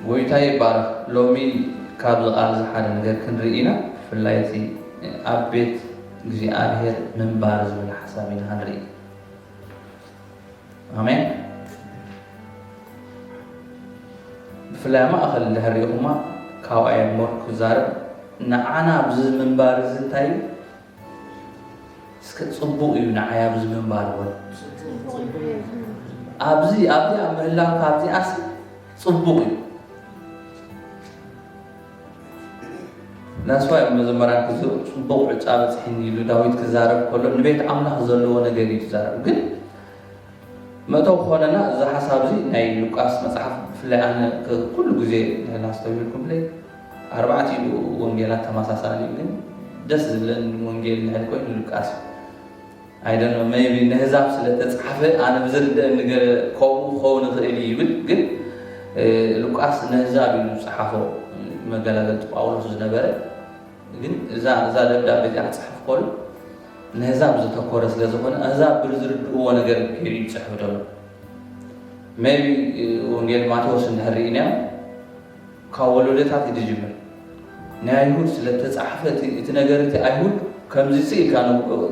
ጎይታ ይባረክ ሎሚ ካብዚ ቃል እዚ ሓደ ነገር ክንርኢ ኢና ብፍላይ እቲ ኣብ ቤት እግዚኣብሔር ምንባር ዝብል ሓሳብ ኢና ክንርኢ ኣሜን ብፍላይ ኣብ ማእኸል እንድሕር ሪኢኹማ ካብኣ እየ ሞር ክዛረብ ንዓና ኣብዚ ምንባር እዚ እንታይ እዩ እስከ ፅቡቅ እዩ ንዓይ ኣብዚ ምንባር እውን ኣብዚ ኣብዚ ኣብ ምህላው ካብዚኣስ ፅቡቅ እዩ ናስዋ እዮም መዘመራን ክዝ ፅቡቅ ዕጫ በፅሒኒ ኢሉ ዳዊት ክዛረብ ከሎ ንቤት ኣምላኽ ዘለዎ ነገር እዩ ዝዛረብ ግን መእተዊ ክኾነና እዚ ሓሳብዚ ናይ ሉቃስ መጽሓፍ ብፍላይ ኣነ ኩሉ ግዜ ልዕሊ ኣስተውሂልኩምለይ ኣርባዕቲኡ ወንጌላት ተማሳሳሊ እዩ ግን ደስ ዝብለኒ ወንጌል ልዕሊ ኮይኑ ሉቃስ እዩ I don't know maybe ነህዛብ ስለ ተጻሕፈ ኣነ ብዝርደአኒ ገለ ከምኡ ክኸውን ይኽእል ይብል ግን ሉቃስ ነህዛብ እዩ ዝጸሓፎ መገላገልቲ ጳውሎስ ዝነበረ ግን እዛ እዛ ደብዳቤ እዚኣ ክጽሕፍ ከሎ ነህዛብ ዘተኮረ ስለ ዝኾነ ኣህዛብ ብር ዝርድእዎ ነገር ገይሩ እዩ ዝፅሕፍ ዘሎ ሜቢ ወንጌል ማቴዎስ እንድሕር ርኢናዮ ካብ ወለዶታት እዩ ዝጅምር ናይ ኣይሁድ ስለ ተፃሓፈ እቲ ነገር እቲ ኣይሁድ ከምዚ ፅ ኢልካ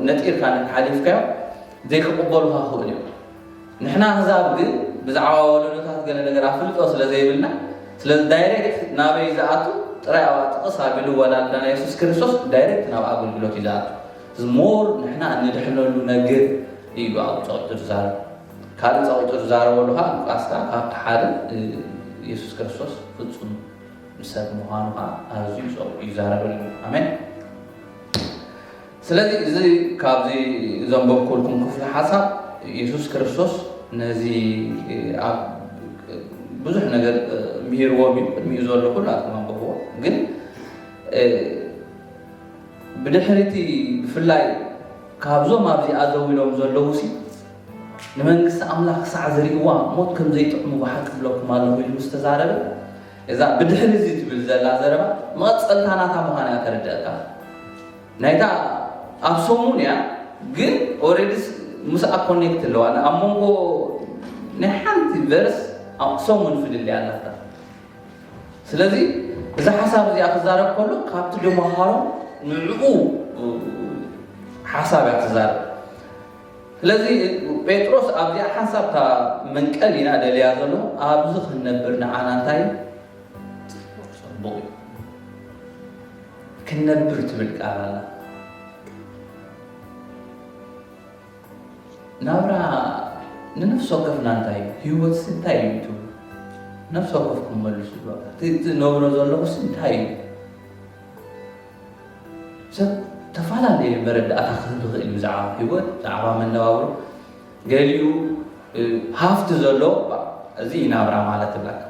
ነጢርካ ሓሊፍካዮ ዘይክቕበሉካ ክእል እዮም ንሕና ኣህዛብ ግን ብዛዕባ ወለዶታት ገለ ነገር ኣፍልጦ ስለ ዘይብልና ስለዚ ዳይሬክት ናበይ ዝኣቱ ጥራይ ኣብኣ ጥቕስ ኣቢሉ ወላልዳና የሱስ ክርስቶስ ዳይሬክት ናብ ኣገልግሎት እዩ ዝኣቱ እዚ ሞር ንሕና እንድሕነሉ ነገር እዩ ኣብኡ ጸቂጡ ዝዛረብ ካልእ ጸቂጡ ዝዛረበሉ ከዓ ሉቃስካ ካብቲ ሓደ የሱስ ክርስቶስ ፍጹም ሰብ ምዃኑ ከዓ ኣዝዩ ጸቂጡ ይዛረበሉ ኣሜን ስለዚ እዚ ካብዚ ዘንበብኩልኩም ክፍሊ ሓሳብ የሱስ ክርስቶስ ነዚ ኣብ ብዙሕ ነገር ምሂርዎም እዩ ቅድሚኡ ዘሎ ኩሉ ኣትኩም ኣንብብዎ ግን ብድሕሪ እቲ ብፍላይ ካብዞም ኣብዚኣ ዘው ኢሎም ዘለዉ ሲ ንመንግስቲ ኣምላኽ ክሳዕ ዝርእዋ ሞት ከም ዘይጥዕሙ ብሓቂ ብለኩም ኣለኹ ኢሉ ምስ ተዛረበ እዛ ብድሕሪ እዚ ትብል ዘላ ዘረባ መቐፀልታ ናታ ምዃና እያ ተረድአካ ናይታ ኣብ ሰሙን እያ ግን ኦሬዲስ ምስኣ ኮኔክት ኣለዋ ኣብ መንጎ ናይ ሓንቲ ቨርስ ኣብ ሰሙን ፍልልያ ኣለካ ስለዚ እዚ ሓሳብ እዚኣ ክዛረብ ከሎ ካብቲ ድመሃሮ ንዕኡ ሓሳብ እያ ትዛረብ ስለዚ ጴጥሮስ ኣብዚኣ ሓሳብ እታ መንቀል ኢና ደልያ ዘሎ ኣብዚ ክንነብር ንዓና እንታይ እዩ ክንነብር ትብል ቃል ኣላ። ናብራ ንነፍሲ ወከፍና እንታይ እዩ? ህይወትሲ እንታይ እዩ ትብሉ? ነፍሲ ወከፍኩም መልሱ። እቲ እትነብሮ ዘለኹስ እንታይ እዩ? ሰብ ተፈላለየ መረዳእታ ክህብ ይኽእል እዩ ብዛዕባ ህይወት፣ ብዛዕባ መነባብሮ ገሊኡ ሃፍቲ ዘሎ እዚ ናብራ ማለት ብላካ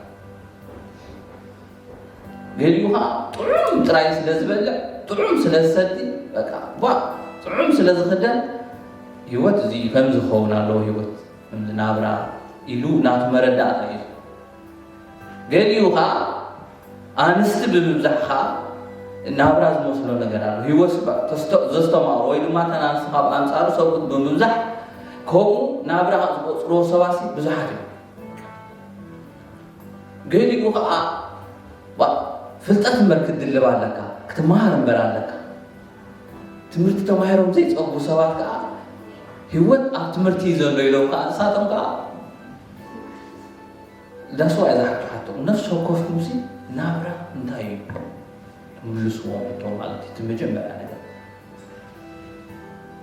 ገሊኡ ኸኣ ጥዑም ጥራይ ስለ ዝበልዕ፣ ጥዑም ስለ ዝሰቲ፣ በቃ ጓ ጥዑም ስለ ዝኽደን ህይወት እዚ እዩ፣ ከምዚ ክኸውን ኣለዎ ህይወት፣ ከምዚ ናብራ ኢሉ ናቱ መረዳእታ እዩ። ገሊኡ ኸኣ ኣንስቲ ብምብዛሕ ኸኣ ናብራ ዝመስሎ ነገር ኣሎ። ህይወት ዘስተማቕሮ ወይ ድማ እተን ኣንስቲ ካብ ኣንጻሩ ሰብኡት ብምብዛሕ ከምኡ ናብራ ዝቖጽርዎ ሰባሲ ብዙሓት እዮም። ገሊኡ ከኣ ዋእ ፍልጠት እምበር ክትድልብ ኣለካ ክትመሃር እምበር ኣለካ ትምህርቲ ተማሂሮም ዘይጸጉ ሰባት ከኣ ህይወት ኣብ ትምህርቲ እዩ ዘሎ ኢሎም ከኣ ንሳቶም ከኣ ዳስዋ እያ ዝሓቶ ሓቶ ነፍሲ ወከፍ ሙሲ ናብራ እንታይ እዩ ምልስዎ ሕቶ ማለት እዩ እቲ መጀመርያ ነገር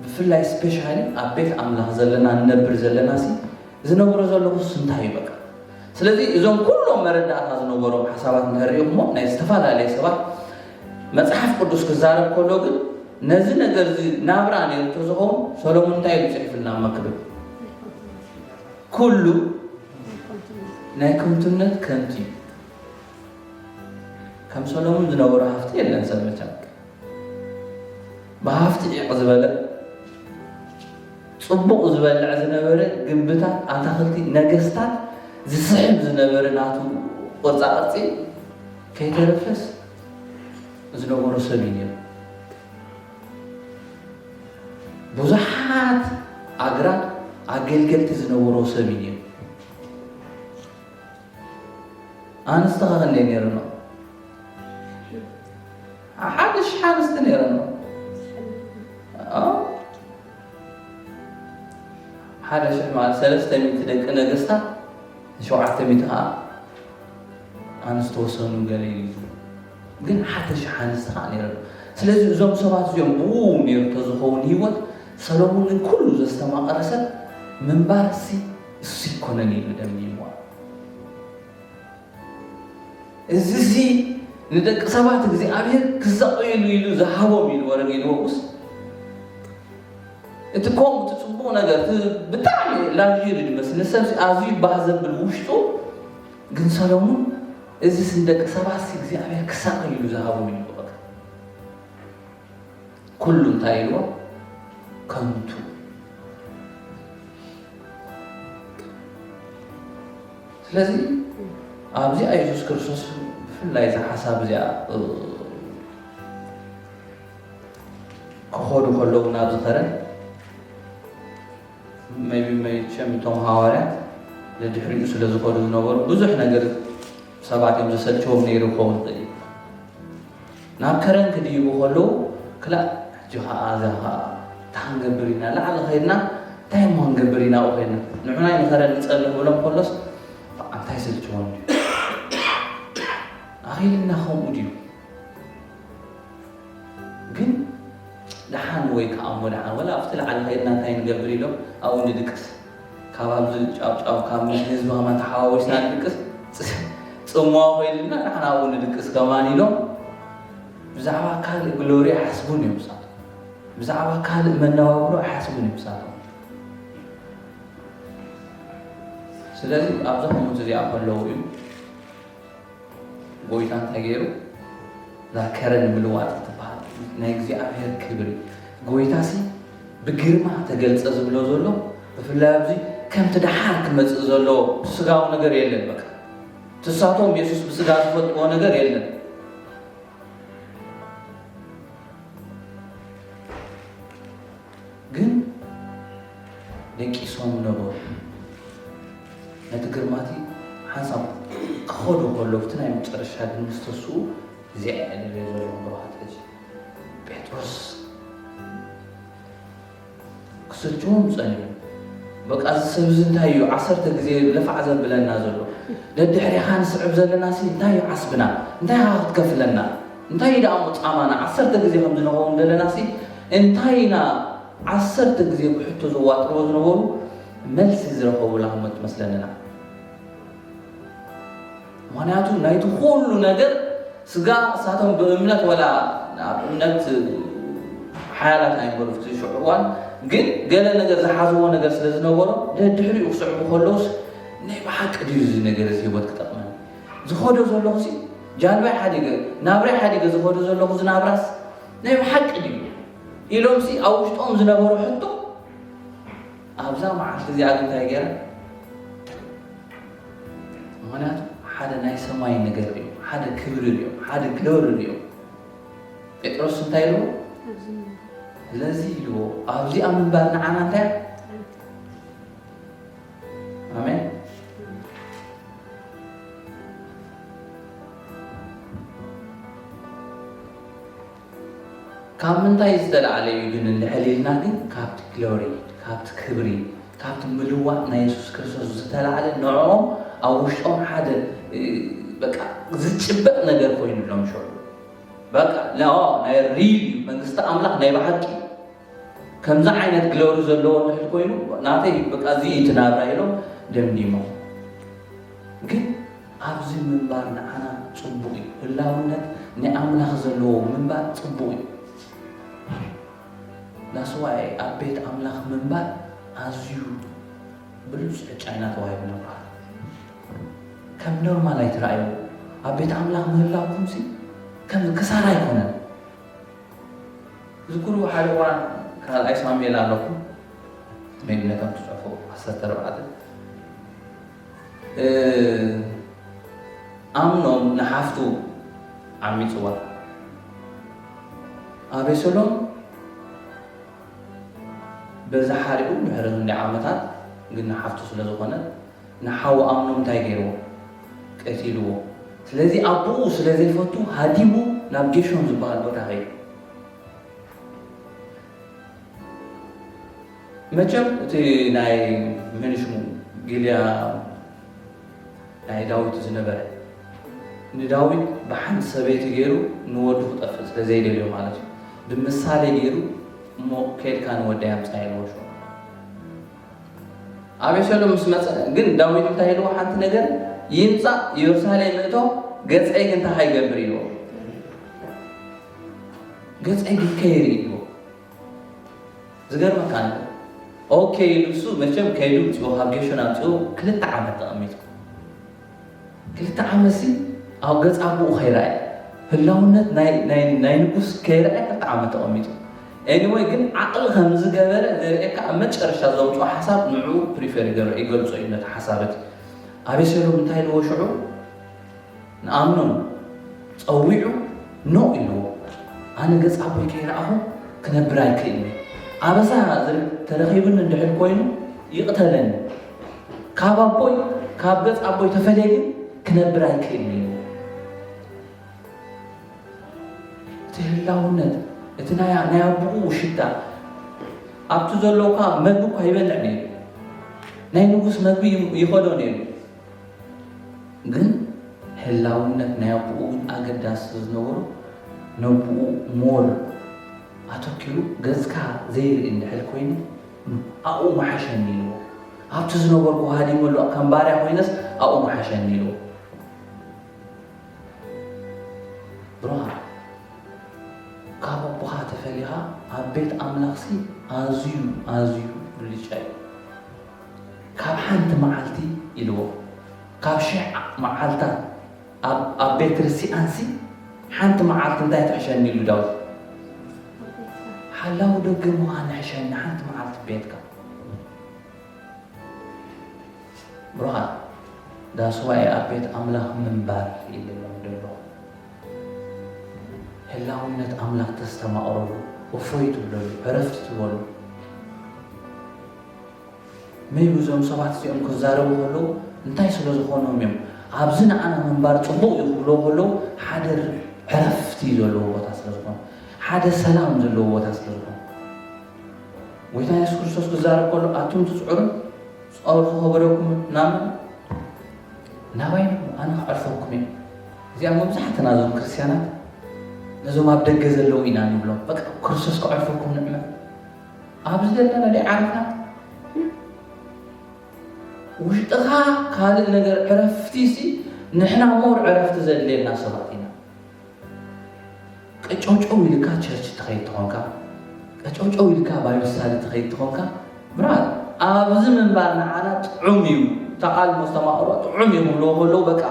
ብፍላይ ስፔሻሊ ኣብ ቤት ኣምላኽ ዘለና ንነብር ዘለና ሲ ዝነብሮ ዘለኹስ እንታይ እዩ በቃ ስለዚ እዞም ኩሎም መረዳእታ ዝነበሮም ሓሳባት እንድሕር ሪኢኹሞ ናይ ዝተፈላለየ ሰባት መጽሓፍ ቅዱስ ክዛረብ ከሎ ግን ነዚ ነገር እዚ ናብራ ነይሩ እንተዝኸውን ሰሎሞን እንታይ ኢሉ ጽሒፍልና መክብብ ኩሉ ናይ ከንቱነት ከንቱ እዩ ከም ሰሎሞን ዝነበሮ ሃፍቲ የለን ሰብ መቸም ብሃፍቲ ዒቕ ዝበለ ጽቡቕ ዝበልዕ ዝነበረ ግንብታት ኣታኽልቲ ነገስታት ዝስሕብ ዝነበረ ናቱ ቅርፃ ቅርፂ ከይተረፈስ ዝነበሩ ሰብ እዩ ነይሩ ብዙሓት ኣግራት ኣገልገልቲ ዝነበሩ ሰብ እዩ ነይሩ ኣንስቲ ከከንደይ ነይረኖ ሓደ ሽሕ ኣንስቲ ነይረኖ ሓደ ሽሕ ማለት ሰለስተ ሚእቲ ደቂ ነገስታት ሸውዓተ ሚእቲ ከዓ ኣንስቲ ወሰኑ ገለ እዩ ግን ሓደ ሽሕ ኣንስቲ ከዓ ነይረ ስለዚ እዞም ሰባት እዚኦም ብኡ ነይሩ ተዝኸውን ህይወት ሰሎሞን ግን ኩሉ ዘስተማቐረ ሰብ ምንባርሲ እሱስ ኣይኮነን ኢሉ ደምዲምዋ። እዝዚ ንደቂ ሰባት እግዚኣብሔር ክሳቐዩሉ ኢሉ ዝሃቦም ኢሉ ወረጌድዎስ እቲ ከምኡ እቲ ፅቡቕ ነገር እቲ ብጣዕሚ ላግዠሪ ዝመስል ንሰብ ኣዝዩ ባህ ዘብል ውሽጡ ግን ሰሎሙን እዝስ ንደቂ ሰባት እግዚኣብሔር ክሳቐዩሉ ዝሃቦም ኢሉ በቐ ኩሉ እንታይ ኢልዎ ከንቱ ስለዚ ኣብዚ ኣየሱስ ክርስቶስ ብፍላይ እዛ ሓሳብ እዚኣ ክኸዱ ከለዉ ናብ ዝኸረ መቢ መቸም እቶም ሃዋርያት ንድሕሪኡ ስለ ዝኸዱ ዝነበሩ ብዙሕ ነገር ሰባት እዮም ዘሰልቸዎም ነይሩ ክኸውን ይኽእል ናብ ከረን ክድይቡ ከለዉ ክላእ ሕጂ ከኣ እዛ ከኣ እንታይ ክንገብር ኢና ላዕሊ ከይድና እንታይ እሞ ክንገብር ኢና ኣብኡ ከይድና ንዑናይ ንከረን ንጸሊ ክብሎም ከሎስ በቃ እንታይ ይሰልችዎም ድዩ ኣኺልና ከምኡ ድዩ ግን ደሓን ወይ ከኣ እሞ ደሓን ወላ ኣብቲ ላዕሊ ከይድና እንታይ ንገብር ኢሎም ኣብኡ ንድቅስ ካብ ኣብዚ ጫውጫው ካብ ምስ ህዝቢ ከማን ተሓዋዊስና ንድቅስ ጽምዋ ኮይንልና ንሕና እውን ንድቅስ ከማን ኢሎም ብዛዕባ ካልእ ግሎሪ ኣይሓስቡን እዮም ንሳቶም ብዛዕባ ካልእ መነባብሮ ኣይሓስቡን እዮም ንሳቶም ስለዚ ኣብዛ ኮሙት እዚኣ ከለዉ እዩ ጎይታ እንታይ ገይሩ እዛ ከረን ምልዋጥ እትበሃል ናይ እግዚኣብሔር ክብሪ ጎይታሲ ብግርማ ተገልጸ ዝብሎ ዘሎ ብፍላይ ኣብዚ ከምቲ ደሓር ክመጽእ ዘሎ ስጋዊ ነገር የለን በቃ ትሳቶም የሱስ ብስጋ ዝፈልጥዎ ነገር የለን ግን ደቂሶም ነበሩ። ነቲ ግርማቲ ሓንሳብ ክኸዱ ከሎ ብቲ ናይ መጨረሻ ግን ምስ ተስኡ እዚኣ እየ ደልዮ ዘለኹ በልዋ ጠጅ ጴጥሮስ ክሰልችዎም ጸኒሑ በቃ እዚ ሰብ እዚ እንታይ እዩ ዓሰርተ ግዜ ለፋዕ ዘብለና ዘሎ ደድሕሪኻ ንስዕብ ዘለናሲ እንታይ እዩ ዓስብና እንታይ ኢኻ ክትከፍለና እንታይ እዩ ደኣሞ ጻማና? ዓሰርተ ግዜ ከም ዝንኸውን ደለናሲ እንታይ ኢና ዓሰርተ ግዜ ብሕቶ ዘዋጥርዎ ዝነበሩ መልሲ ዝረኸቡላ እሞ ትመስለንና። ምክንያቱ ናይቲ ኩሉ ነገር ስጋ እሳቶም ብእምነት ወላ ኣብ እምነት ሓያላት ኣይነበሩ ፍቲ ሽዑ እዋን ግን ገለ ነገር ዝሓዝዎ ነገር ስለ ዝነበሮም ደድሕሪኡ ክስዕቡ ከለውስ ናይ ብሓቂ ድዩ እዚ ነገር እዚ ህይወት ክጠቅመን ዝኸዶ ዘለኹሲ ጃልባይ ሓዲገ ናብራይ ሓዲገ ዝኸዶ ዘለኹ ዝናብራስ ናይ ብሓቂ ድዩ ኢሎምሲ ኣብ ውሽጦም ዝነበሩ ሕቶ ኣብዛ መዓልቲ እዚኣ ግን እንታይ ገይረ ምክንያቱ ሓደ ናይ ሰማይ ነገር እዩ ሓደ ክብሪ እዩ ሓደ ግሎሪ እዩ ጴጥሮስ እንታይ ኢልዎ ስለዚ ኢልዎ ኣብዚኣ ምንባር ንዓና እንታይ ኣሜን። ካብ ምንታይ ዝተላዕለ እዩ ግን ልዕል ኢልና ግን ካብቲ ግሎሪ ካብቲ ክብሪ ካብቲ ምልዋጥ ናይ የሱስ ክርስቶስ ዝተላዕለ ንዕኦም ኣብ ውሽጦም ሓደ በቃ ዝጭበጥ ነገር ኮይኑሎም ሸ በቃ ናይ ሪል መንግስቲ ኣምላኽ ናይ ብሓቂ ከምዚ ዓይነት ግሎሪ ዘለዎ እንድሕር ኮይኑ ናተይ እዩ በቃ እዚ እዩ እቲ ናብራይ ኢሎም ደምዲሞም ግን ኣብዚ ምንባር ንዓና ጽቡቕ እዩ ህላውነት ናይ ኣምላኽ ዘለዎ ምንባር ጽቡቕ እዩ ዳስዋይ ኣብ ቤት ኣምላኽ ምንባር ኣዝዩ ብሉጽ ዕጫ ኢና ተዋሂቡ ነብራ ከም ኖርማል ኣይትረኣዩ ኣብ ቤት ኣምላኽ ምህላውኩምሲ ከም ክሳራ ኣይኮነን ትዝክሩ ሓደ እዋን ካልኣይ ሳሙኤል ኣለኹ ሜንነቶም ትጽሕፉ ዓሰርተ ኣርባዕተ ኣምኖም ንሓፍቱ ዓሚጽዋ ኣቤሰሎም በዛ ሓሪኡ ድሕሪ ክንደይ ዓመታት ግን ንሓፍቱ ስለ ዝኾነ ንሓው ኣምኖም እንታይ ገይርዎ? ቀቲልዎ። ስለዚ ኣቦኡ ስለ ዘይፈቱ ሃዲሙ ናብ ጌሾን ዝበሃል ቦታ ከይዱ። መቸም እቲ ናይ መን ሽሙ ጊልያ ናይ ዳዊት ዝነበረ ንዳዊት ብሓንቲ ሰበይቲ ገይሩ ንወዱ ክጠፍእ ስለ ዘይደልዮ ማለት እዩ ብምሳሌ ገይሩ እሞ ከይድካ ንወደይ ኣምጻ ኢልዎ። ኣቤሴሎም ምስ መጸ ግን ዳዊት እንታይ ኢልዎ ሓንቲ ነገር ይምጻእ ኢዮርሳሌም ምእቶ ገጸይ ግን እንታይ ይገብር ኢልዎ ገጸይ ግን ከይሪ ኢልዎ ዝገርመካ ኣሎ ኦኬ ኢሉ እሱ መቸም ከይዱ ምስ ካብ ጌሹን ኣምጽኡ ክልተ ዓመት ተቐሚጡ ክልተ ዓመትሲ ኣብ ገጽ ኣቡኡ ከይረኣየ ህላውነት ናይ ናይ ናይ ንጉስ ከይረኣየ ክልተ ዓመት ተቀሚጡ Anyway ግን ዓቅሊ ከምዝገበረ ዘርእየካ ኣብ መጨረሻ ዘውጽኦ ሓሳብ ንዕኡ ፕሪፈር ይገብር ይገልጾ እዩ ነቲ ሓሳብ እቲ ኣቤሴሎም እንታይ ኢልዎ ሽዑ ንኣምኖን ጸዊዑ ኖእ ኢልዎ ኣነ ገጽ ኣቦይ ከይረኣኹ ክነብር ኣይክእልን እየ ኣበሳ ተረኺብኒ እንድሕር ኮይኑ ይቅተለኒ ካብ ኣቦይ ካብ ገጽ ኣቦይ ተፈልየ ግን ክነብር ኣይክእልን እየ። እቲ ህላውነት እቲ ናይ ናይ ኣቦኡ ሽታ ኣብቲ ዘሎ እኳ መግቢ እኳ ይበልዕ ነይሩ ናይ ንጉስ መግቢ ይኸዶ ነይሩ ግን ህላውነት ናይ ኣቦኡ ግን ኣገዳሲ ዝነበሩ ነቦኡ ሞር ኣተኪሩ ገጽካ ዘይርኢ እንድሕር ኮይኑ ኣብኡ ምሓሸኒ ኢልዎ። ኣብቲ ዝነበርኩ ሃዲመሉ ከም ባርያ ኮይነስ ኣብኡ ምሓሸኒ ኢልዎ። ብርሃን ካብ ኣቦኻ ተፈሊኻ ኣብ ቤት ኣምላኽሲ ኣዝዩ ኣዝዩ ብልጫ እዩ። ካብ ሓንቲ መዓልቲ ኢልዎ ካብ ሽሕ መዓልታት ኣብ ኣብ ቤት ክርስትያንሲ ሓንቲ መዓልቲ እንታይ ትሕሸኒ ኢሉ ዳዊት? ሓላዊ ደገ ምዃን ይሕሸኒ ሓንቲ መዓልቲ ቤትካ። ብሩኻት ዳስዋኤ ኣብ ቤት ኣምላኽ ምንባር ይልለም ደሎ ህላውነት ኣምላኽ ተስተማቕረሉ እፎይ ትብለሉ ዕረፍቲ ትበሉ maybe እዞም ሰባት እዚኦም ክዛረቡ ከለዉ እንታይ ስለ ዝኾኖም እዮም ኣብዚ ንዓና ምንባር ጽቡቕ እዩ ክብሎ ከለዉ ሓደ ዕረፍቲ ዘለዎ ቦታ ስለ ዝኾኑ ሓደ ሰላም ዘለዎ ቦታ ስለ ዝኾኑ ጎይታ የሱስ ክርስቶስ ክዛረብ ከሎ ኣቱም ትጽዕሩ ጸወር ክኸበረኩም ናብ ናባይ ኣነ ክዕርፈኩም እዩ እዚኣ መብዛሕትና እዞም ክርስትያናት ነዞም ኣብ ደገ ዘለዉ ኢና ንብሎም በቃ ክርስቶስ ክዕርፈኩም ንዕመ ኣብዚ ዘለና ዲ ዓረፋት ውሽጥኻ ካልእ ነገር ዕረፍቲ ሲ ንሕና ሞር ዕረፍቲ ዘድልየና ሰባት ኢና ቀጨውጨው ኢልካ ቸርች ትኸይድ ትኾንካ ቀጨውጨው ኢልካ ባይብል ስታዲ ትኸይድ ትኾንካ ብራት ኣብዚ ምንባር ንዓና ጥዑም እዩ ተቓልሞ ዝተማቕሮ ጥዑም እዩ ክብልዎ ከለዉ በቃ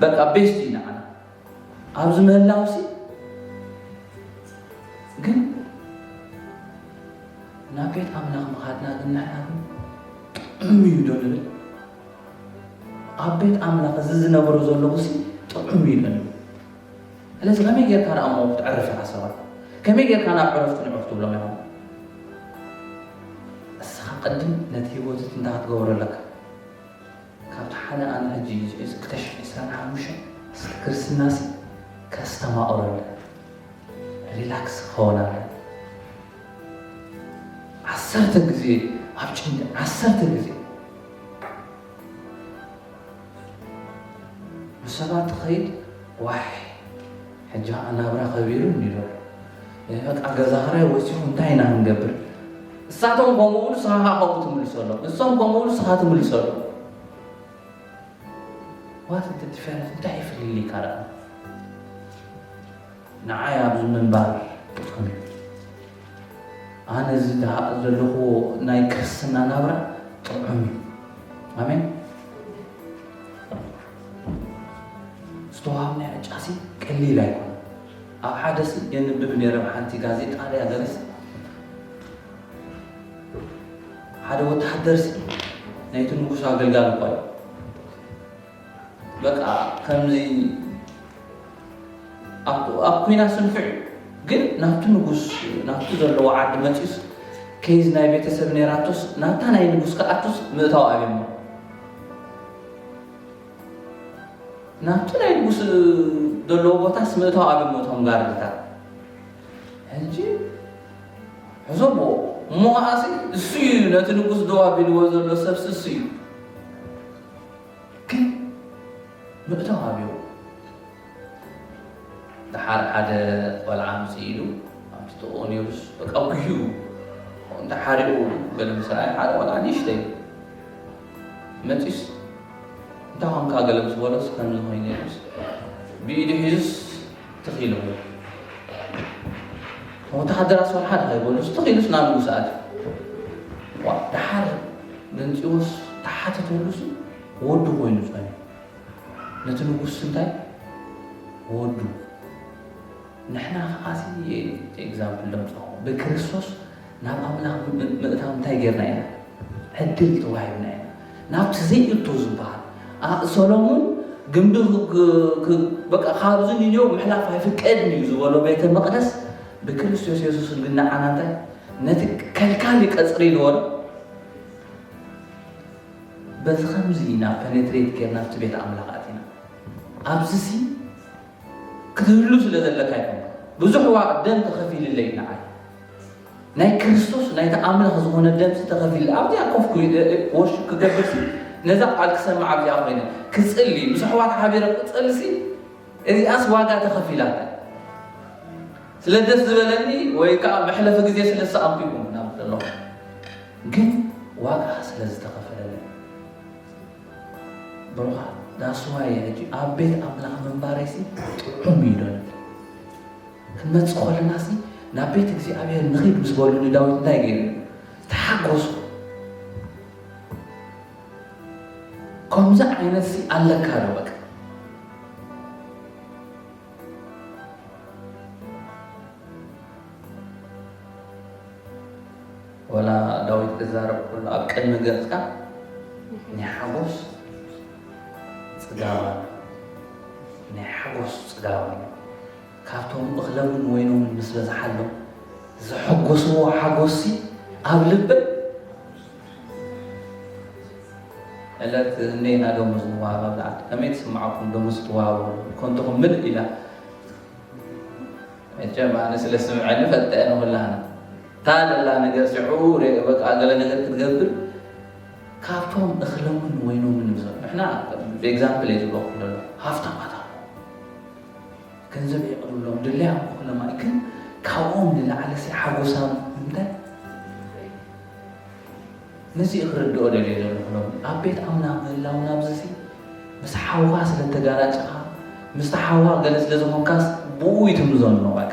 በቃ ቤስት እዩ ንዓና ኣብዚ ምህላውሲ ግን ናብ ቤት ኣምላኽ ምኻድና ግን ንሕና ግን ጥዑም እዩ ዶ ንብል ኣብ ቤት ኣምላኽ እዚ ዝነብሮ ዘለኹሲ ጥዑም እዩ ዶ ንብል ስለዚ ከመይ ጌርካ ደኣ እሞ ክትዕርፍ ኢኻ ሰባት ከመይ ጌርካ ናብ ዕረፍቲ ንዑፍ ትብሎም ኢኻ እስኻ ቅድም ነቲ ህይወት እንታ ክትገብሮ ኣለካ ካብቲ ሓደ ኣነ ሕጂ ንዝሒዝ ክልተ ሽሕን ዕስራን ሓሙሽተን እስከ ክርስትናሲ ከስተማቕረለን ሪላክስ ክኸውናለን ዓሰርተ ግዜ ኣብ ጭንቂ ዓሰርተ ግዜ ብሰባት ትኸይድ ዋሕ ሕጂ ከኣ ናብራ ከቢሩ እኒሎ በቃ ገዛ ክራይ ወሲኹ እንታይ ኢና ክንገብር እሳቶም ከምኡ ብሉ ስኻ ከዓ ከምኡ ትምልሶ ኣሎ እሶም ከምኡ ብሉ ስኻ ትምልሶ ኣሎ ዋት እንተ ዲፈረንስ እንታይ ይፍልል ይካል ንዓይ ኣብዚ ምንባር ትኾነ ኣነ እዚ ዘለኹዎ ናይ ክርስትና ናብራ ጥዑም እዩ ኣሜን ዝተዋሃብናዮ ዕጫሲ ቀሊል ኣይኮነን። ኣብ ሓደሲ የንብብ ነይረ ኣብ ሓንቲ ጋዜጣ ድያ ገለስ ሓደ ወተሃደርሲ ናይቲ ንጉሱ ኣገልጋሊ እኳ እዩ። በቃ ከምዚ ኣብ ኩናት ስንፍዕ ግን ናብቲ ንጉስ ናብቲ ዘለዎ ዓዲ መፂኡስ ከይዝ ናይ ቤተሰብ ነይራቶስ ናብታ ናይ ንጉስ ክኣቱስ ምእታው ኣብሞ ናብቲ ናይ ንጉስ ዘለዎ ቦታስ ምእታው ኣበሞ እቶም ጋርድታት ሕጂ ሕዞቦ እሞ ከዓሲ እሱ እዩ ነቲ ንጉስ ደው ኣቢልዎ ዘሎ ሰብሲ እሱ እዩ ግን ምእታው ኣብዮ ደሓር ሓደ ቆልዓ ኣምጽእ ኢሉ ኣብቲ ጥቕኡ ነይሩስ በቃ ጉዩ እንዳ ሓሪቑ ገለ ምስ ረኣየ ሓደ ቆልዓ ንእሽተይ መጺስ እንታይ ኾንካ ገለ ምስ በሎስ ከምዚ ኮይኑ ነይሩስ ብኢዱ ሒዙስ ትኽ ኢሉ ወተሃደራት ሰልሓ ድኸይበሉስ ትኽ ኢሉስ ናብ ንጉስ ኣት ደሓር ገንፂዎስ ተሓተተሉስ ወዱ ኮይኑ ጸኒ ነቲ ንጉስ እንታይ ወዱ ንሕና ከኣ እዚ ኤግዛምፕል ደምጸኹ ብክርስቶስ ናብ ኣምላኽ ምእታው እንታይ ጌርና ኢና ዕድል ተዋሂብና ኢና ናብቲ ዘይእቶ ዝበሃል ሰሎሞን ግንቢ በቃ ካብዚ ንዮ ምሕላፍ ኣይፍቀድን እዩ ዝበሎ ቤተ መቅደስ ብክርስቶስ የሱስ ግን ንዓና እንታይ ነቲ ከልካሊ ቀጽሪ ዝበሎ በዚ ኸምዚ ኢና ፐነትሬት ጌርና ኣብቲ ቤት ኣምላኽ ኣቲና። ኣብዚሲ ክትህሉ ስለ ዘለካ ኣይኮንኩን፣ ብዙሕ ዋጋ ደም ተኸፊልለይ ንዓይ። ናይ ክርስቶስ ናይቲ ኣምላኽ ዝኾነ ደምሲ ተኸፊልለይ። ኣብዚኣ ኮፍ ወርሽፕ ክገብርሲ ነዛ ቃል ክሰምዕ ኣብዚኣ ኮይነ ክጽሊ ምስ ኣሕዋት ሓቢረ ክጸልሲ እዚኣስ ዋጋ ተኸፊላታ ስለ ደስ ዝበለኒ ወይ ከዓ መሕለፊ ግዜ ስለ ዝሰኣንኩ ይኹን ናብ ዘለኹ ግን ዋጋ ስለ ዝተኸፈለለይ ብሩኻት ዳስ ዋይ እየ ሕጂ ኣብ ቤት ኣምላኽ ምንባረይሲ ጥዑም እዩ ዶ ክንመጽእ ከለናሲ ናብ ቤት እግዚኣብሔር ንኺድ ምስ በሉ ንዳዊት እንታይ ገይሩ ተሓጎሱ ከምዚ ዓይነት ሲ ኣለካ ዶ በቃ ወላ ዳዊት ክዛረብ ከሎ ኣብ ቅድሚ ገጽካ ናይ ሓጎስ ጽጋብ ኣሎ ናይ ሓጎስ ጽጋብ ኣሎ ካብቶም እኽለምን ወይኖምን ምስ በዝሓሎም ዘሐጎስዎ ሓጎሲ ኣብ ልበይ ዕለት እኔና ደሞዝ ንዋሃብ ኣብ ዝዓት ከመይ ትስምዓኩም ደሞዝ ትዋሃቡ ኮንትኹም ምልእ ኢላ መቸም ኣነ ስለ ስምዐኒ ፈልጠ ንኹላና እታ ዘላ ነገር ሽዑ ሪኤ በቃ ገለ ነገር ክትገብር ካብቶም እኽሎምን ወይኖምን ዝሰሩ ንሕና ኤግዛምፕል እየ ዝበኹም ዘሎ ሃፍታማት ኣሎ ገንዘብ የቕርብሎም ድለያ ክኹሎም ኣይ ግን ካብኦም ንላዕሊ ሲ ሓጎሳም እንታይ ነዚ ክርድኦ ደልየ ዘለኹ ሎም ኣብ ቤት ኣምላኽ ምህላውና ብዝሲ ምስ ሓውኻ ስለ ተጋራጭኻ ምስ ሓውኻ ገለ ስለ ዝኾንካስ ብኡ ይትምዞ ንመባቅ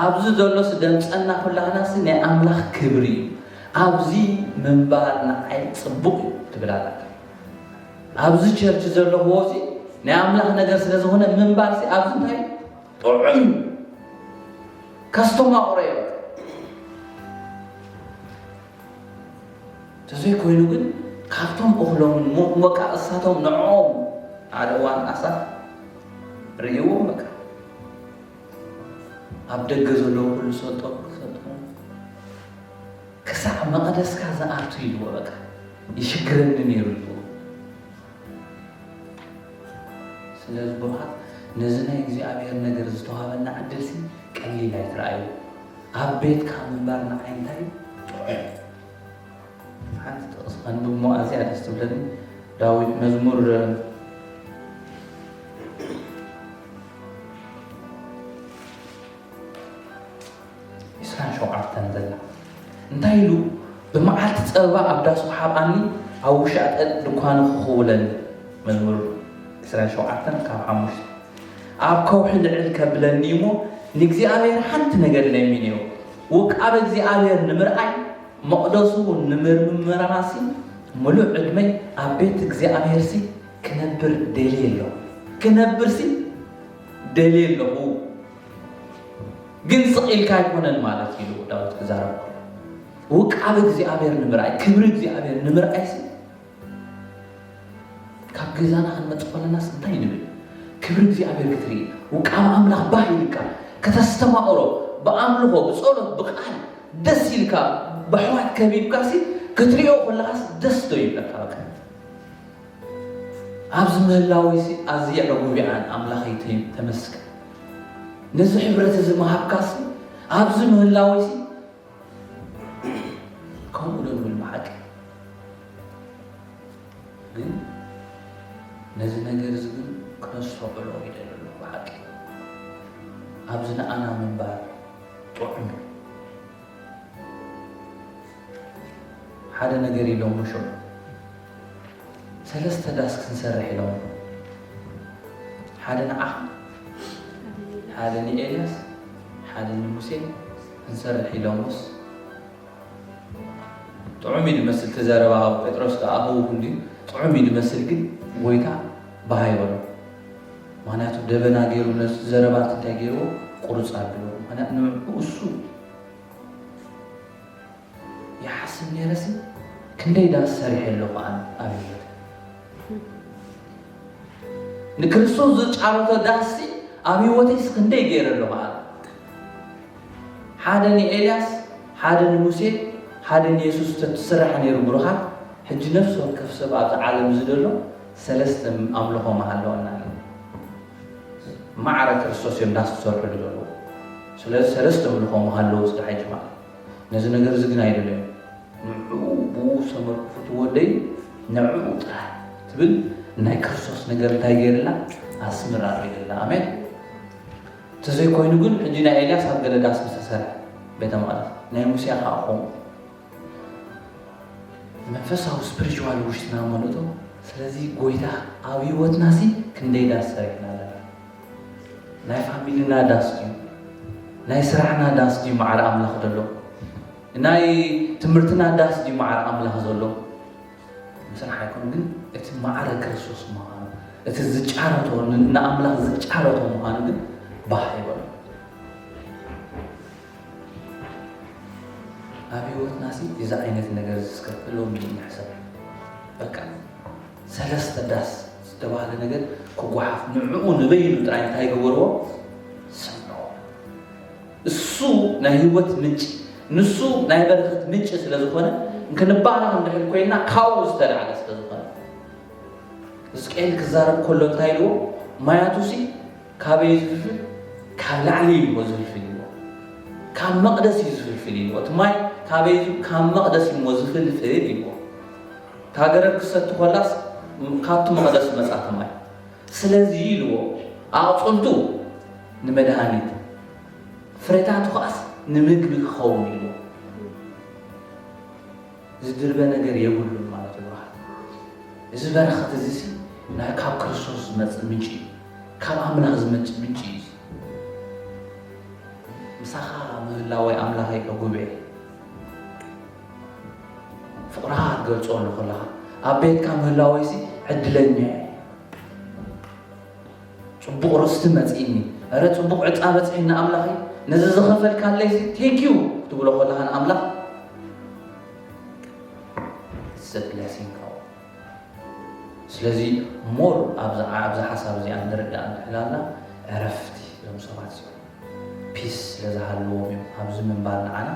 ኣብዚ ዘሎ ስደምጸና ኩላህናሲ ናይ ኣምላኽ ክብሪ እዩ ኣብዚ ምንባር ንዓይ ጽቡቅ እዩ ትብል ኣላ ኣብዚ ቸርች ዘለኽዎ እዚ ናይ ኣምላኽ ነገር ስለ ዝኾነ ምንባርሲ ኣብዚ እንታይ ጥዑም ካስተማቕሮ እዮ ተዘይኮይኑ ግን ካብቶም እኽሎምን ሞት ወቃ እሳቶም ንዕኦም ሓደ እዋን ኣሳፍ ርእይዎም በቃ ኣብ ደገ ዘሎ ኩሉ ሰጦ ክሰጦ ክሳዕ መቐደስካ ዝኣቱ ኢልዎ በቃ ይሽግረኒ ነይሩ ኢልዎ ስለ ዝበሃል ነዚ ናይ እግዚኣብሔር ነገር ዝተዋሃበና ዕድልሲ ቀሊል ኣይትረኣዩ ኣብ ቤትካ ምንባር ንዓይ እንታይ ጥዑም እዩ። ሓንቲ ጥቕሲ ከንብብ እሞ ኣዝያ ደስ ትብለኒ ዳዊት መዝሙር እንታይ ኢሉ ብመዓልቲ ፀበባ ኣብ ዳሱ ሓብኣኒ ኣብ ውሻጠ ድኳኑ ክኽውለኒ መዝሙር 27 ካብ ሓሙሽተ ኣብ ከውሒ ልዕል ከብለኒ እሞ ንእግዚኣብሔር ሓንቲ ነገር ለሚነዮ፣ ውቃበ እግዚኣብሔር ንምርኣይ መቕደሱ እውን ንምርምራሲ ምሉእ ዕድመይ ኣብ ቤት እግዚኣብሔርሲ ክነብር ደልየ ኣለኹ። ክነብርሲ ደልየ ኣለኹ ግን ስቕ ኢልካ ኣይኮነን ማለት እዩ ኢሉ ዳዊት ክዛረብ ከሎ ውቃበ እግዚኣብሔር ንምርኣይ ክብሪ እግዚኣብሔር ንምርኣይሲ ካብ ገዛና ክንመጽእ ከለናስ እንታይ ንብል? ክብሪ እግዚኣብሔር ክትርኢ፣ ውቃበ ኣምላኽ ባህ ይልካ፣ ከተስተማቕሮ፣ ብኣምልኾ፣ ብጸሎት፣ ብቃል ደስ ይልካ፣ በሕዋት ከቢብካሲ ክትሪኦ ከለኻስ ደስ ዶ ይብለካ? በቃ ኣብዚ ምህላወይሲ ኣዝየ ዕጉብ ይዓን ኣምላኸይ ተመስገን። ነዚ ሕብረት እዚ ምሃብካሲ ኣብዚ ምህላወይሲ ከምኡ ዶ ንብል ብሓቂ ግን ነዚ ነገር እዚ ግን ክነስተውዕሎ ይደል ኣሎ ብሓቂ ኣብዚ ንኣና ምንባር ጥዑም ሓደ ነገር ኢሎም ሸ ሰለስተ ዳስ ክንሰርሕ ኢሎም ሓደ ንዓኻ ሓደ ንኤልያስ ሓደ ንሙሴ ክንሰርሕ ኢሎምስ ጥዑም እዩ ዝመስል ተዘረባ ጴጥሮስ ከዓ ክውክል ድዩ ጥዑም እዩ ዝመስል ግን ጎይታ ባህ ይበሎ ምክንያቱ ደበና ገይሩ ነዚ ዘረባት እንታይ ገይርዎ ቁርፅ ኣድዎ ምክንያት ንሱ ይሓስብ ነይረሲ ክንደይ ዳስ ሰሪሐ ኣለኹ ኣነ ኣብ ህይወት ንክርስቶስ ዝጫረቶ ዳስሲ ኣብ ህይወተይስ ክንደይ ገይረ ኣለኹ ኣነ ሓደ ንኤልያስ ሓደ ንሙሴ ሓደ ንየሱስ ተትስራሕ ነይሩ ብሩኻት ሕጂ ነፍሲ ወከፍ ሰብ ኣብዚ ዓለም እዚ ዘሎ ሰለስተ ኣምልኾ ምሃለወና እዩ ማዕረ ክርስቶስ እዮም ዳስ ዝሰርሕሉ ዘለዎ ስለዚ ሰለስተ ኣምልኾ ምሃለዉ ዝድሓጅ ማለት ነዚ ነገር እዚ ግን ኣይደለዮን። ንዕኡ ብኡ ዝተመርኩሱ ትወደይ ንዕኡ ጥራሕ ትብል ናይ ክርስቶስ ነገር እንታይ ገይርላ ኣስምር ኣርኢልላ። ኣሜን። ተዘይኮይኑ ግን ሕጂ ናይ ኤልያስ ኣብ ገለ ዳስ ዝተሰርሐ ቤተ መቕደስ ናይ ሙሴ ከዓ ኾም መንፈሳዊ ስፕሪቹዋል ውሽጥና መለጦ ስለዚ ጎይታ ኣብ ህይወትና ሲ ክንደይ ዳስ ሰሪሕና ኣለና ናይ ፋሚልና ዳስ ድዩ ናይ ስራሕና ዳስ ድዩ መዓር ኣምላኽ ዘሎ ናይ ትምህርትና ዳስ ድዩ መዓር ኣምላኽ ዘሎ ምስራሕ ኣይኮኑ ግን እቲ መዓረ ክርስቶስ ምዃኑ እቲ ዝጫረቶ ንኣምላኽ ዝጫረቶ ምዃኑ ግን ባህ ይበሉ ኣብ ህይወትና እዚ ዓይነት ነገር ዝስከፍሎም ንሕሰብ በቃ ሰለስተ ዳስ ዝተባህለ ነገር ክጓሓፍ ንዕኡ ንበይኑ ጥራይ እንታይ ገበርዎ ሰምዕዎ እሱ ናይ ህይወት ምንጭ ንሱ ናይ በረኸት ምንጭ ስለ ዝኾነ እንክንባረኽ እንድሕር ኮይና ካብኡ ዝተላዕለ ስለ ዝኾነ ሕዝቅኤል ክዛረብ ከሎ እንታይ ኢልዎ ማያቱሲ ካበይ ዝፍልፍል ካብ ላዕሊ ኢልዎ ዝፍልፍል ኢልዎ ካብ መቕደስ እዩ ዝፍልፍል ኢልዎ እቲ ማይ ካበይ ካብ መቕደስ ኢልዎ ዝፍልፍል ኢልዎ እታ ገረብ ክትሰቲ ዀላስ፣ ካብቲ መቕደስ መጻእካ ማይ። ስለዚ ኢልዎ፣ ኣቝጽልቱ ንመድሃኒት፣ ፍረታቱ ኸኣስ ንምግቢ ኪኸውን ኢልዎ። ዚድርበ ነገር የብሉን ማለት እዩ ብሩኻት። እዚ በረኸት እዚሲ ናይ ካብ ክርስቶስ ዝመጽእ ምንጪ እዩ። ካብ ኣምላኽ ዝመንጭ ምንጪ እዩ እዚ። ምሳኻ ምህላወይ ኣምላኸይ ዕጉብ'የ። ፍቕርኻ ክትገልጸሉ ከለኻ ኣብ ቤትካ ምህላወይሲ ዕድለኛ እየ ጽቡቕ ርስቲ መጺእኒ እረ ጽቡቕ ዕፃ በፅሒኒ ኣምላኽ ነዚ ዝኸፈልካለይሲ ቴንኪዩ ክትብሎ ከለኻ ንኣምላኽ ዘብለሲንካ ስለዚ ሞር ኣብዛ ሓሳብ እዚኣ ንርዳእ ንሕላና ዕረፍቲ ዞም ሰባት ፒስ ስለ ዝሃልዎም እዮም ኣብዚ ምንባር ንዓና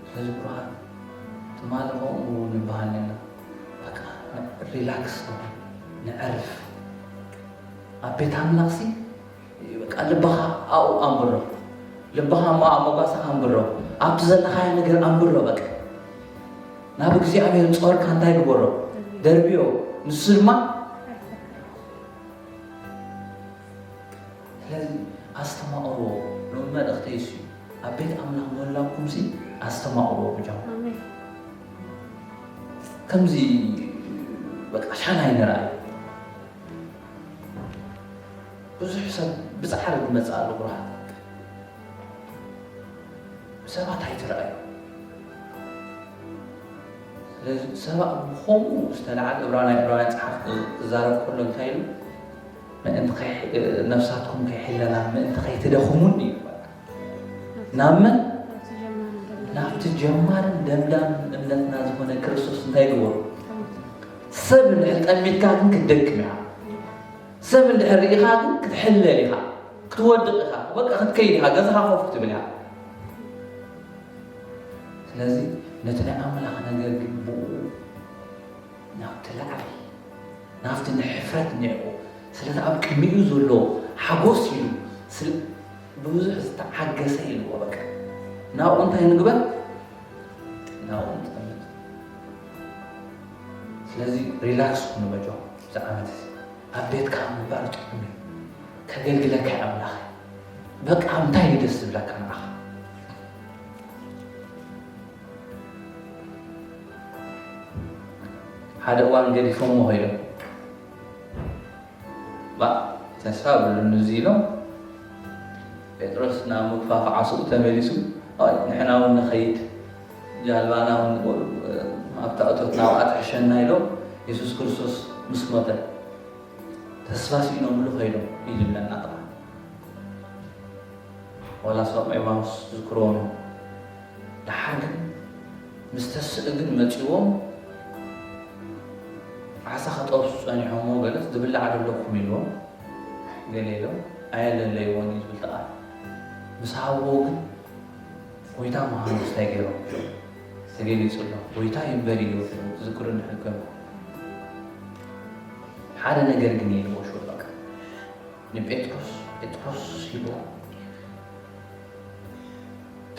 ስለዚ ብሩኻት ትማሊ ከምኡ ንብሃል ኔርና በቃ ሪላክስ ንኹን ነዕርፍ ኣብ ቤት ኣምላኽሲ በቃ ልብኻ ኣብኡ ኣንብሮ ልብኻ እሞ ኣብ መጓሰኻ ኣንብሮ ኣብቲ ዘለኻዮ ነገር ኣንብሮ በቃ ናብ እግዚኣብሔር ጾርካ እንታይ ግበሮ ደርብዮ ንሱ ድማ ስለዚ ኣስተማቕርዎ ሎሚ መልእኽተይ እሱ እዩ ኣብ ቤት ኣምላኽ ምህላውኩምሲ ኣስተማቕርዎ ብጃኹም ኣሜን ከምዚ በቃ ሻና ይንርኣይ ብዙሕ ሰብ ብፃዕሪ ዝመፅእ ኣሎ ብርሃን ሰባት ኣይትርኣዩ ስለዚ ሰባት ብከምኡ ዝተለዓለ እብራና እብራውያን ፀሓፍ ክዛረብ ከሎ እንታይ ኢሉ ምእንቲ ከይ ነፍሳትኩም ከይሕለላ ምእንቲ ከይትደኽሙን እዩ በቃ። ናብ መን ናብቲ ጀማርን ደምዳም እምነትና ዝኾነ ክርስቶስ እንታይ ግበሩ ሰብ እንድሕር ጠሚትካ ግን ክትደክም ኢኻ ሰብ እንድሕር ርኢኻ ግን ክትሕለል ኢኻ ክትወድቕ ኢኻ በቃ ክትከይድ ኢኻ ገዛኻ ኮፍ ክትብል ኢኻ ስለዚ ነቲ ናይ ኣምላኽ ነገር ግን ብኡ ናብቲ ላዕሊ ናብቲ ንሕፍረት ኒዕቁ ስለ እቲ ኣብ ቅድሚኡ ዘሎ ሓጎስ ኢሉ ስለ ብብዙሕ ዝተዓገሰ ኢልዎ በቃ ናብኡ እንታይ ንግበር ናብኡ ንጠምት ስለዚ ሪላክስ ኩኑ መጆ እዚ ዓመት እዚ ኣብ ቤትካ ምንባር ጥዑም እዩ ከገልግለካ እዩ ኣምላኽ በቃ እንታይ እዩ ደስ ዝብለካ ንዓኻ ሓደ እዋን ገዲፎሞ ኸይዶም ባ ተስፋ ብሉኒ እዚ ኢሎም ጴጥሮስ ናብ ምግፋፍ ዓስኡ ተመሊሱ ኣይ ንሕና እውን ንኸይድ ጃልባና እውን ኣብታ እቶት ናብኣ ትሕሸና ኢሎም የሱስ ክርስቶስ ምስ ሞተ ተስፋ ስኢኖምሉ ኸይዶም እዩ ዝብለና ጥራሕ ዋላ ሶም ኤማውስ ዝክርዎም ደሓር ግን ምስ ተስእ ግን መጺዎም ዓሳ ክጠብሱ ጸኒሖሞ ገለስ ዝብላዕ ዶ ኣለኩም ኢልዎም ገለ ኢሎም ኣየለለይዎን እዩ ዝብል ተቃል ምስ ሃብዎ ግን ጎይታ ምዃኑ እንታይ ገይሮም ተገሊጹ ኣሎ ጎይታ ይንበር እዩ ዝክሩ እንድሕር ኮይኑ ሓደ ነገር ግን ይልዎ ሽወ በቃ ንጴጥሮስ ጴጥሮስ ሂቦ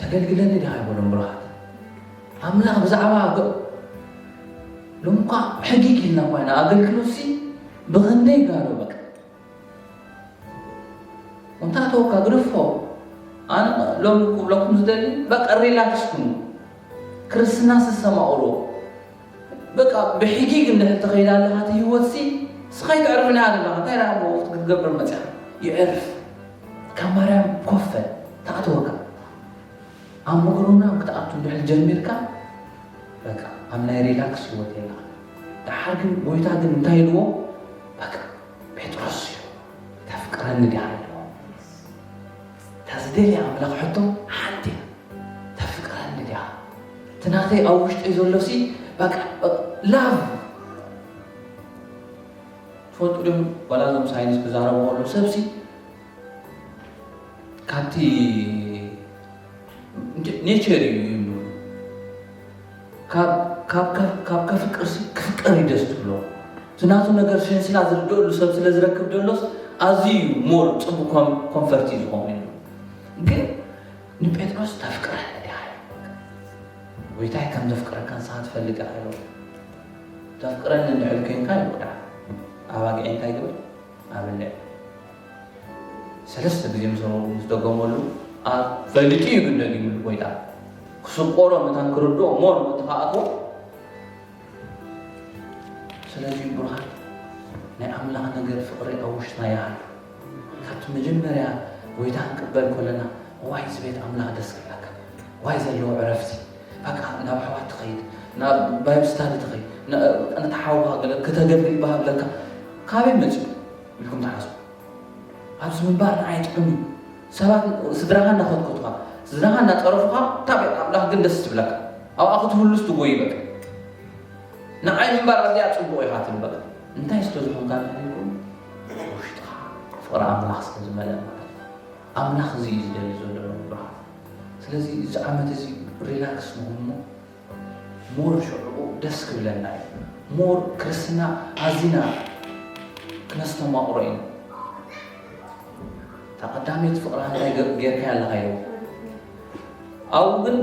ተገልግለኒ ድሃ ይበሎም ብርሃት ኣምላኽ ብዛዕባ ሎምኳ ሕጊግ ኢልና ኳይና ኣገልግሎት ሲ ብክንደይ ጋዶ በቃ እንታተወካ ግርፎ ኣነ ሎም ክብለኩም ዝደሊ በቃ ሪላክስ ኩኑ ክርስትና ስሰማቅሮ በቃ ብሒጊግ እንድሕር ተኸይዳ ኣለኻ እቲ ህይወትሲ ስኻ ኣይተዕርፍንያ ዘለኻ እንታይ ደኣ እሞ ወፍት ክትገብር መጺኻ ይዕርፍ ካብ ማርያም ኮፍ በል ትኣትወካ ኣብ ምቕርና ክትኣቱ እንድሕር ጀሚርካ በቃ ኣብ ናይ ሪላክስ ህይወት የለኻ ደሓር ግን ጎይታ ግን እንታይ ኢልዎ በቃ ጴጥሮስ እዩ ተፍቅረኒ ድያ እታ ዝደልያ ኣምላኽ ሕቶ ሓንቲ እያ ተፍቅረኒ ዲኻ እቲ ናተይ ኣብ ውሽጠይ ዘሎሲ በቃ ላቭ ትፈልጡ ዶ ዋላ እዞም ሳይንስ ክዛረቡ ከሉ ሰብሲ ካብቲ ኔቸር እዩ ካብ ካብ ከፍቅርሲ ክፍቀር እዩ ደስ ትብሎ እቲ ናቱ ነገር ሸንስላ ዝርድእሉ ሰብ ስለ ዝረክብ ደሎስ ኣዝዩ እዩ ሞር ፅቡቅ ኮንፈርቲ እዩ ዝኾኑ እዩ ግን ንጴጥሮስ ተፍቅረ ዲኻ ጎይታይ ከም ዘፍቅረካ ንስኻ ትፈልጥ ኢኻ ኢሎ ተፍቅረኒ እንድሕር ኮይንካ ይቁዳ ኣባጊዕ እንታይ ግበር ኣብልዕ ሰለስተ ግዜ ምስ ነበርኩ ምስ ደገመሉ ኣብ ፈሊጡ እዩ ግን ደጊምሉ ጎይታ ክስቆሮ መታን ክርድኦ እሞ ንቦቲ ከኣትዎ ስለዚ ብሩሃን ናይ ኣምላኽ ነገር ፍቕሪ ኣብ ውሽጥና ይሃሉ ካብቲ መጀመርያ ጎይታ ክንቅበል ኮለና ዋይ እዚ ቤት ኣምላኽ ደስ ክብላካ ዋይ ዘለዎ ዕረፍቲ በቃ ናብ ኣሕዋት ትኸይድ ናብ ባይብ ስታዲ ትኸይድ ነቲ ሓውካ ገለ ክተገልግል ይበሃለካ ካበይ መፅኡ ኢልኩም ትሓስቡ ኣብዚ ምንባር ንዓይ ጥዑም እዩ ሰባት ስድራኻ እናኾትኮትኻ ስድራኻ እናፀረፉኻ እታ ቤት ኣምላኽ ግን ደስ ትብለካ ኣብኣ ክትህሉስ ትጎይ በቃ ንዓይ ምንባር ኣዝያ ፅቡቕ ኢኻ ትብል በቃ እንታይ ስለ ዝኾንካ ንሕልኩም ውሽጥኻ ፍቕሪ ኣምላኽ ስለ ዝመልአ ማለት ኣምላኽ እዚ እዩ ዝደሊ ዘሎ ብርሃን ስለዚ እዚ ዓመት እዚ ሪላክስ ንኹኑ ሞር ሽዕኡ ደስ ክብለና እዩ ሞር ክርስትና ኣዚና ክነስተማቕሮ ኢና እታ ቀዳመይቲ ፍቕራ እንታይ ጌርካያ ኣለኻ ኢሉ ኣብኡ ግን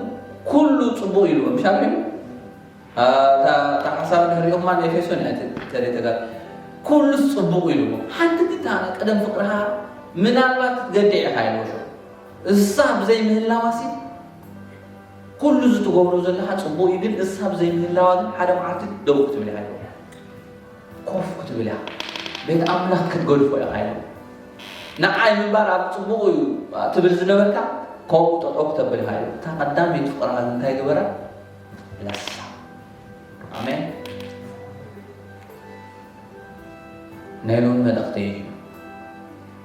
ኩሉ ፅቡቅ ኢሉ ምሻ እታ ሓሳብ ንሪኦማ ንኤፌሶን እያ ተሪተጋ ኩሉስ ፅቡቅ ኢሉ ሓንቲ ግታ ቀደም ፍቅርሃ ምናልባት ክትገድዕ ኢኻ ኢሉ እሳ ብዘይ ምህላዋሲ ኩሉ እዚ ትገብሮ ዘለኻ ጽቡቅ እዩ ግን እሳ ብዘይምህላዋ ግን ሓደ መዓልቲ ደው ክትብል ኢኻ ኢልዎ ኮፍ ክትብል ኢኻ ቤት ኣምላኽ ክትገድፎ ኢኻ ኢልዎ ንዓይ ምንባር ኣብ ጽቡቁ እዩ ትብል ዝነበርካ ከምኡ ጠጠው ክተብል ኢኻ ኢልዎ እታ ቀዳመይቲ ፍቅርኻ ግን እንታይ ገበራ ለሳ ኣሜን ናይ ሎሚ መልእኽተይ እዩ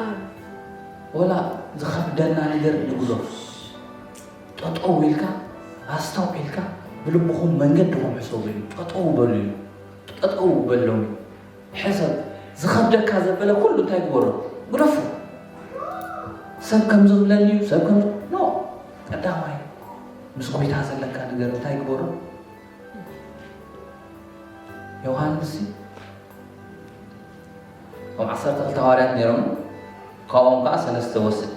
ኣብ ወላ ዝኸብደና ነገር ንግዞስ ጠጠው ኢልካ ኣስተውዒልካ ብልብኹም መንገድኹም ሕሰቡ እዩ ጠጠው በሉ እዩ ጠጠው በሎም ሕሰብ ዝኸብደካ ዘበለ ኩሉ እንታይ ግበሮ ግደፉ ሰብ ከም ዝብለኒ እዩ ሰብ ከም ኖ ቀዳማይ ምስ ጎይታ ዘለካ ነገር እንታይ ግበሮ ዮሃንስ እቶም ዓሰርተ ክልተ ሃዋርያት ነይሮም፣ ካብኦም ከኣ ሰለስተ ወስድ።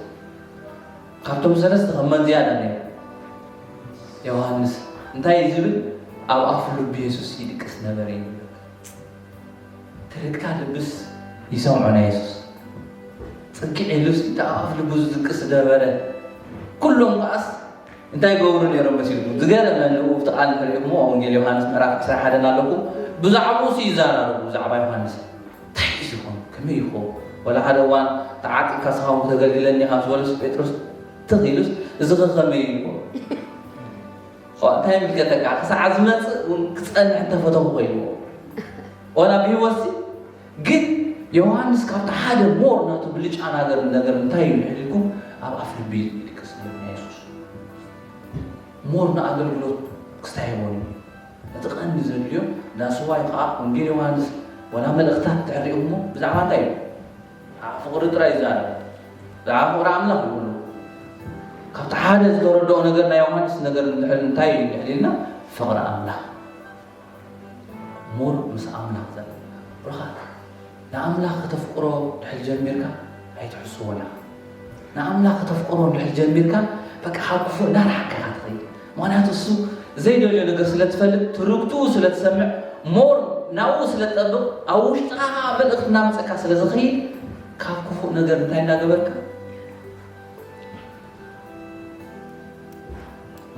ካብቶም ሰለስተ ከም መን ዝያዳ ነይሩ? ዮሃንስ። እንታይ እዩ ዝብል? ኣብ ኣፍ ልቡ የሱስ ይድቅስ ነበረ እዩ ዝብል። ትርግታ ልብስ ይሰምዖ ናይ የሱስ ጽግዕ ኢሉስ እቲ ኣብ ኣፍ ልቡ ዝድቅስ ዝነበረ ኩሎም ከኣስ እንታይ ይገብሩ ነይሮም መሲልኩም? ዝገረመኒ ኣብቲ ቃል እንተሪኢኹምዎ ኣብ ወንጌል ዮሃንስ ምዕራፍ ዕስራን ሓደን ኣለኩም ብዛዕብኡስ ይዛረቡ ብዛዕባ ዮሃንስ እንታይ ሒዙ ይኾን ከመይ ይኾን ወላ ሓደ እዋን ተዓጢቕካ ስኻ እውን ክተገልግለኒ ኢኻ ምስ በለስ ጴጥሮስ ትኽ ኢሉስ እዚ ኸ ከመይ እዩ ይኾን እንታይ ምልከተካ ክሳዕ ዝመፅእ እውን ክፀንሕ እንተፈተኹ ኮይንዎ ወላ ብሂወትሲ ግን ዮውሃንስ ካብቲ ሓደ ሞር ናቱ ብልጫ ናገር ነገር እንታይ እዩ እንድሕር ኢልኩም ኣብ ኣፍ ልቢ እዩ ዝድቅስ ነይሩ ናይ የሱስ ሞር ንኣገልግሎት ክስታይ ይበሉ እቲ ቀንዲ ዘድልዮ ዳስዋይ ከዓ ወንጌል ዮውሃንስ ወላ መልእኽታት ትዕሪኡሞ ብዛዕባ እንታይ እዩ ብዛዕባ ፍቕሪ ጥራይ ይዛረብ ብዛዕባ ፍቕሪ ኣምላኽ ይብሉ ካብቲ ሓደ ዝተረድኦ ነገር ናይ ዮውሃንስ ነገር እንድሕር እንታይ እዩ እንድሕር ኢልና ፍቕሪ ኣምላኽ more ምስ ኣምላኽ ዘለና ርክኣት ንኣምላኽ ከተፍቅሮ ድሕሪ ጀሚርካ ኣይትሕስዎን ኢኻ ንኣምላኽ ከተፍቅሮ ድሕሪ ጀሚርካ በቃ ካብ ክፉእ እንዳርሓካ ኢኻ ትኸይድ ምክንያቱ እሱ ዘይደልዮ ነገር ስለ ትፈልጥ ትርግትኡ ስለ ትሰምዕ ሞር ናብኡ ስለ ትጠብቕ ኣብ ውሽጥኻ ከዓ መልእኽቲ እናምፀካ ስለ ዝኸይድ ካብ ክፉእ ነገር እንታይ እናገበርካ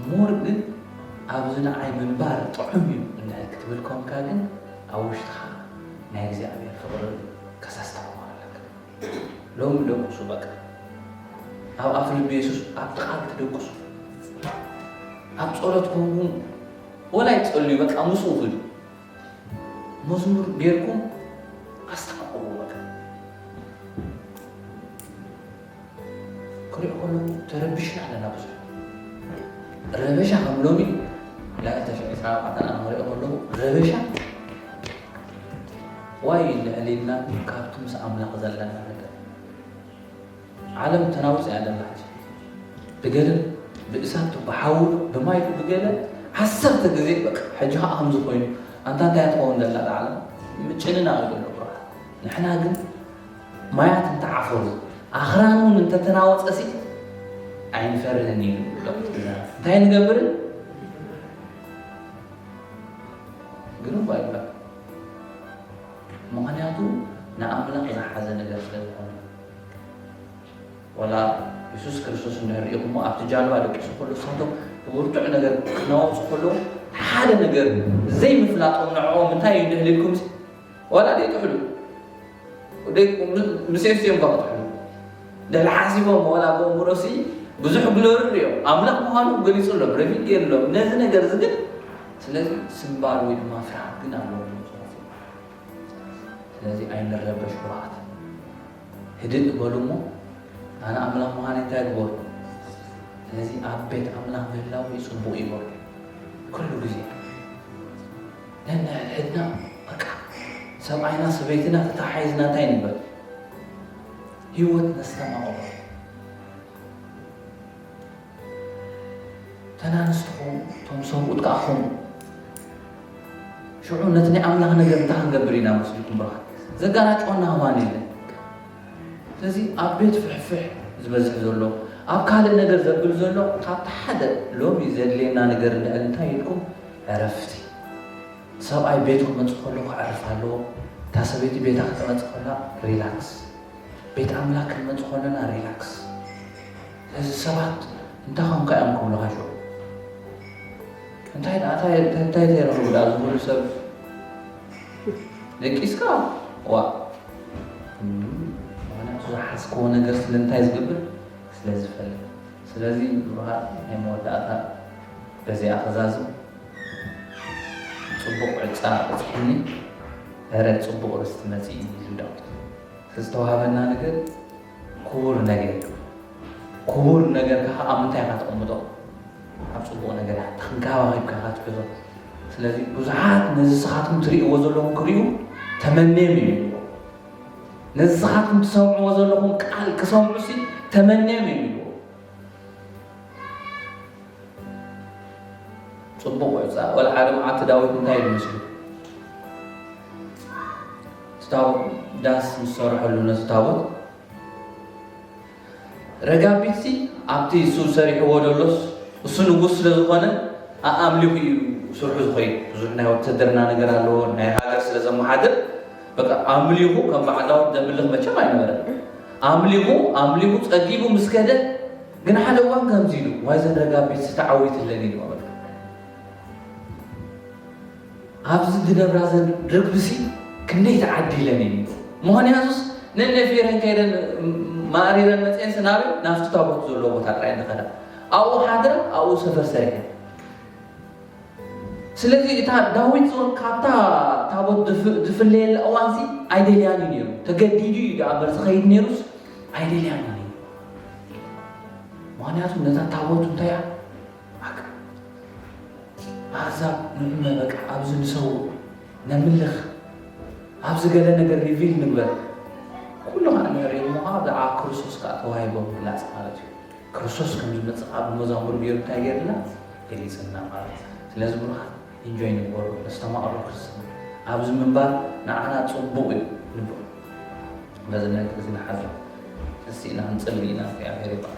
ሞር ግን ኣብዚ ንዓይ ምንባር ጥዑም እዩ እንታይ ክትብል ኮንካ ግን ኣብ ውሽጥኻ ናይ እግዚኣብሔር ፍቕሪ ከሳስ ተማሃር ኣለካ ሎሚ ደቁሱ በቃ ኣብ ኣፍ ልቢ የሱስ ኣብ ጥቓል ትደቁሱ ኣብ ጸሎት ኮንኩ ወላይ ጸልዩ በቃ ምስኡ ክዱ መዝሙር ጌርኩም ኣስተቃቅሙ በቃ ክሪኦ ከለኹ ተረቢሽና ኣለና ብዙሕ ረበሻ ከም ሎሚ ላዕሊ ተሽዑ ዕስራ ኣርባዕተ ኣነ ክሪኦ ከለኹ ረበሻ ዋይ ልዕሊና ካብቲ ምስ ኣምላኽ ዘለና ነገር ዓለም ተናውፅ እያ ኣለና ሕጂ ብገደል ብእሳት ብሓዊ ብማይ ብገለ ዓሰርተ ግዜ በቃ ሕጂ ከዓ ከምዚ ኮይኑ ኣንታ እንታይ ትኸውን ዘላ ዓለም ምጭንና ኣሎ ንሕና ግን ማያት እንተዓፈሩ ኣኽራን እውን እንተተናወጸሲ ኣይንፈርህን እዩ እንታይ ንገብርን ግን እኳ ይባል ምክንያቱ ንኣምላኽ ዝሓዘ ነገር ስለዝኾነ ወላ የሱስ ክርስቶስ እንሪእኹሞ ኣብቲ ጃልባ ደቂሱ ከሎ ሰቶም ብብርቱዕ ነገር ክናወፁ ከለዉ ሓደ ነገር ዘይምፍላጦም ንዕኦም እንታይ እዩ ድህልኩም ዋላ ደይጥሕሉ ምሴፍ ሲኦም ኳ ክጥሕሉ ድሕሪ ሓሲቦም ዋላ ብእምሮሲ ብዙሕ ግሎርር እዮም ኣምላኽ ምዃኑ ገሊጹሎም ረቪድ ገይሩሎም ነዚ ነገር እዚ ግን ስለዚ ስምባር ወይ ድማ ፍርሃት ግን ኣለዎ ስለዚ ኣይንረበሽ ኩርዓት ህድእ በሉ እሞ ኣነ ኣምላኽ ምዃን እንታይ ግበሩ ስለዚ ኣብ ቤት ኣምላኽ ምህላው እዩ ጽቡቕ ይበሉ ኩሉ ግዜ ነንሕድሕድና በቃ ሰብኣይና ሰበይትና ተተሓሒዝና እንታይ ንበል ህይወት ነስተማቕሮ ተናንስቲ ኹኑ እቶም ሰብኡት ከዓ ኹኑ ሽዑ ነቲ ናይ ኣምላኽ ነገር እንታይ ክንገብር ኢና መስልኩም ብርሃን ዘጋናጭወና ህማን የለን ስለዚ ኣብ ቤት ፍሕፍሕ ዝበዝሕ ዘሎ ኣብ ካልእ ነገር ዘብል ዘሎ ካብቲ ሓደ ሎሚ ዘድልየና ነገር እንድሕር እንታይ ኢልኩም ዕረፍቲ ሰብኣይ ቤቱ ክመጽእ ከሎ ክዕርፍ ኣለዎ እታ ሰበይቲ ቤታ ክትመጽእ ከላ ሪላክስ ቤት ኣምላክ ክንመጽእ ከለና ሪላክስ እዚ ሰባት እንታይ ኮንካ እዮም ክብሉካ ሽዑ እንታይ ደኣ እንታይ ተረኽቡ ደኣ ዝብሉ ሰብ ደቂስካ ዋ ምክንያቱ ዝሓዝክዎ ነገር ስለምንታይ ዝገብር ስለዝፈልጥ ስለዚ ብሩሃት ናይ መወዳእታ በዚኣ ክዛዝም ጽቡቕ ዕጫ በጺሕኒ እረ ጽቡቕ ርስቲ መጺኡ ሒዙ ዳዊት ዝተዋህበና ነገር ክቡር ነገር እዩ ክቡር ነገርካ ከኣ ኣብ ምንታይ ኢኻ ተቐምጦ ኣብ ጽቡቕ ነገር ኢኻ ተንከባኺብካ ኢኻ ትሕዞ ስለዚ ብዙሓት ነዚ ስኻትኩም ትርእይዎ ዘለኹም ክርእዩ ተመንዮም እዩ ነዝኻትኩም ትሰምዕዎ ዘለኹም ቃል ክሰምዑ ሲ ተመንዮም እዮም ይብልዎ። ጽቡቕ እዩ እዛ ወላ ሓደ መዓልቲ ዳዊት እንታይ ኢሉ መስሉ ታቦት ዳስ ምስ ሰርሐሉ ነቲ ታቦት ረጋቢትሲ ኣብቲ እሱ ሰሪሕዎ ደሎስ እሱ ንጉስ ስለ ዝኾነ ኣኣምሊኹ እዩ ስርሑ ዝኸይድ ብዙሕ ናይ ወተደርና ነገር ኣለዎ ናይ ሃገር ስለ ዘመሓድር በቃ ኣምሊኹ ከም በዓል ዳዊት ዘምልኽ መቸም ኣይነበረን ኣምሊኹ ኣምሊኹ ጸጊቡ ምስ ከደ ግን ሓደ እዋን ከምዚ ኢሉ ዋይ ዘን ረጋቢትሲ ተዓዊትለን ኢሉ ኣብዚ ዝነብራ ዘን ርግቢሲ ክንደይ ተዓዲለን እየን ምኽንያቱስ ነኔ ፌረን ከይደን ማእሪረን መጺኤንሲ ናበይ ናብቲ ታቦት ዘሎ ቦታ ጥራይ እየን ዝኸዳ ኣብኡ ሓድራ ኣብኡ ሰፈር ሰሪሐን ስለዚ እታ ዳዊት ዞን ካብታ ታቦት ዝፍለየላ እዋንሲ ኣይደልያን እዩ ነይሩ ተገዲዱ እዩ ዳኣ እምበር ዝኸይድ ነይሩስ ኣይደልያን እዩ ምኽንያቱ ነታ ታቦት እንታይ እያ ኣዛብ ንዑመ በቃ ኣብዚ ንሰው ነምልኽ ኣብዚ ገለ ነገር ሪቪል ንግበር ኩሉ ከ ንዕሪኡ ምዃ ብዛዕባ ክርስቶስ ከዓ ተዋሂቦ ምግላፅ ማለት እዩ ክርስቶስ ከም ዝመፅእ ኣብ መዛሙር ገይሩ እንታይ ገይርና ገሊፅና ማለት ስለዚ ብሩኻት ኢንጆይ ንግበሩ ነስተማቕሮ ክርስትና ኣብዚ ምንባር ንዓና ፅቡቕ እዩ ንብሎ በዚ ነገር እዚ ንሓዘ እስቲ ኢና ንፅሊ ኢና እግዚኣብሔር ይባል